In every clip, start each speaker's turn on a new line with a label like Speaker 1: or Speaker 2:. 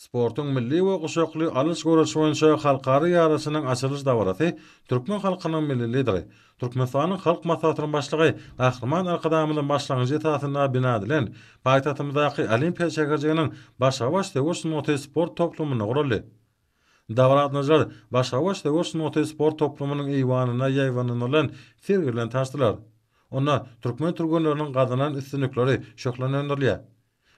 Speaker 1: Sportuň milli we guşakly alyş göreş boýunça halkara ýaryşynyň açylyş dabarasy türkmen halkynyň Milli Lideri, Türkmenistanyň Halk Maslahatynyň Başlygy Gahryman Arkadagymyzyň başlangyjy esasynda bina edilen paýtagtymyzdaky Olimpiýa şäherjiginiň Başagaç söweş sungaty sport toplumynda guraldy. Dabaragatnaşyjylar Başagaç söweş sungaty sport toplumynyň eýwanynda ýaýbaňlandyrylan sergi bilen tanyşdylar. Onda türkmen türgenleriniň gazanan üstünlikleri şöhlelendirilýär.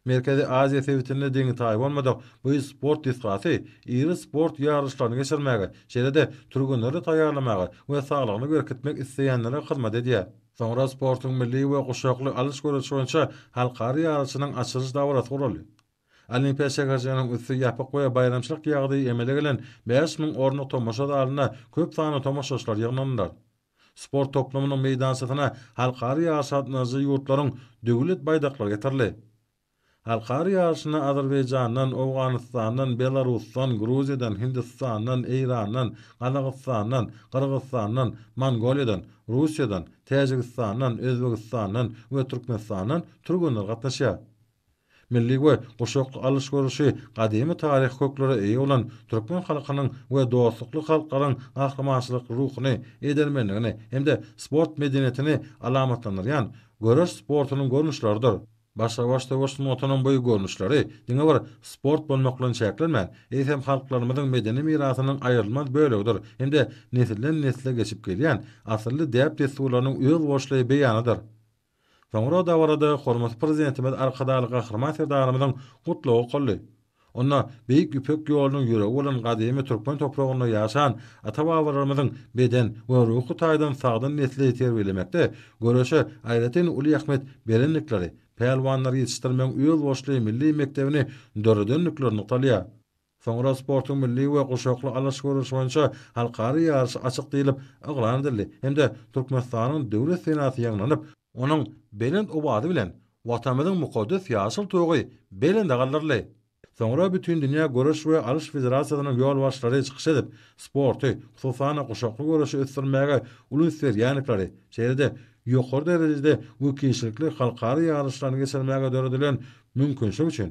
Speaker 1: Merkezi Aziýa sebitinde deňi-taýy bolmadyk bu sport desgasy iri sport ýaryşlaryny geçirmäge, şeýle-de türgenleri taýýarlamaga we saglygyny berkitmek isleýänlere hyzmat edýär. Soňra sportuň milli we guşakly alyş-göreliş boýunça halkara ýaryşynyň açylyş dabarasy guraldy. Olimpiýa şäherjiginiň üsti ýapyk we baýramçylyk ýagdaýy emele gelen bäş müň orunlyk tomaşa zalyna köp sanly tomaşaçylar ýygnandylar. Sport toplumynyň meýdançasyna halkara ýaryşy gatnaşyjy ýurtlaryň Döwlet baýdaklary getirildi. Halkara ýaryşyna Azerbaýjandan, Owganystandan, Belarusdan, Gruziýadan, Hindistandan, Eýrandan, Gazagystandan, Gyrgyzstandan, Mongoliýadan, Russiýadan, Täjigistandan, Özbegistandan we Türkmenistandan türgenler gatnaşýar. Milli we guşakly alyş-görüşi gadymy taryhy köklere eýe bolan türkmen halkynyň we dostlukly halklaryň gahrymançylykly ruhuny, edermenligini hem-de sport medeniýetini alamatlandyrýan göreş sportunyň görnüşleridir. Başga-baş söweş sungatynyň bu görnüşleri diňe bir sport bolmak bilen çäklenmän, eýsem halklarymyzyň medeni mirasynyň aýrylmaz bölegidir hem-de nesilden-nesle geçip gelýän asylly däp-dessurlarynyň özboluşly beýanydyr. Soňra dabarada hormatly Prezidentimiz Arkadagly Gahryman Serdarymyzyň Gutlagy okaldy. Onda Beýik Ýüpek ýolunyň ýüregi bolan gadymy türkmen topragynda ýaşan ata-babalarymyzyň beden we ruhy taýdan sagdyn nesli terbiýelemekde göreşe aýratyn uly ähmiýet berendikleri, pälwanlar ýetişdirmegiň özboluşly milli mekdebini döredendikleri nygtalýar. Soňra sportuň milli we guşakly alyş görnüşi boýunça halkara ýaryş açyk diýlip yglan edildi hem-de Türkmenistanyň Döwlet senasy ýaňlanyp, onuň belent owazy bilen Watanymyzyň mukaddes ýaşyl tugy belende galdyryldy. Soňra Bütindünýä göreş we alyş federasiýasynyň ýolbaşçylary çykyş edip, sporty, hususan-da guşakly göreşi ösdürmäge uly üns berýändikleri, şeýle-de ýokary derejede we kişilikli halkara ýaryşlaryny geçirmäge döredilen mümkinçilik üçin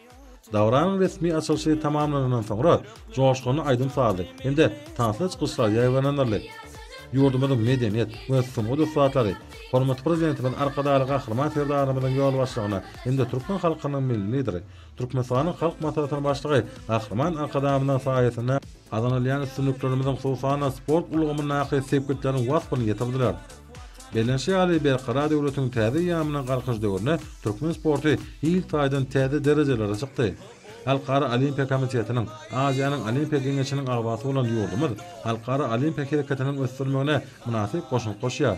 Speaker 1: Dabaranyň resmi açylyşy tamamlanandan soňra, joşgunly aýdym-sazly hem-de tansly çykyşlar ýaýbaňlandyryldy. Ýurdumyzyň medeniýet we sungat ussatlary hormatly Prezidentimiz Arkadagly Gahryman Serdarymyzyň ýolbaşçylygynda hem-de türkmen halkynyň Milli Lideri, Türkmenistanyň Halk Maslahatynyň Başlygy Gahryman Arkadagymyzyň saýasynda gazanylýan üstünliklerimiziň, hususan-da, sport ulgamyndaky sepgitleriň waspyny ýetirdiler. Bellenişi ýaly, Berkarar döwletiň täze eýýamynyň Galkynyş döwründe türkmen sporty hil taýdan täze derejelere çykdy. Halkara Olimpiýa komitetiniň, Aziýanyň Olimpiýa geňeşiniň agzasy bolan ýurdumyz halkara olimpiýa hereketiniň ösdürilmegine mynasyp goşant goşýar.